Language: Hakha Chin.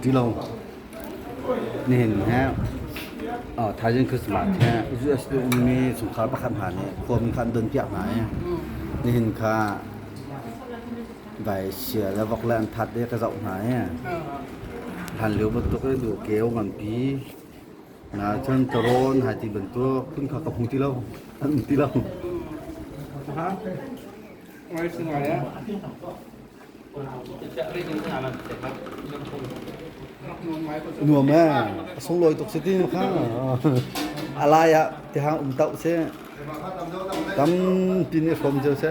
Ti lo. Nihin he Thailand Christmas he US tu ummi sungkhar pakhat hna nih kuam khan don piak hna i nihin kha Vai sia le vok le an that de ka zoh hna e. Hlan lio bantuk in du keu nganpi. Na cun taron hai ti bantuk kun kha ka hmu ti lo. An um ti lo. Ha? Ngồi xin ngồi đấy. nuam e sung loi tuk siti ma kha alai a ti hang um tau se tam pin ni khom jo se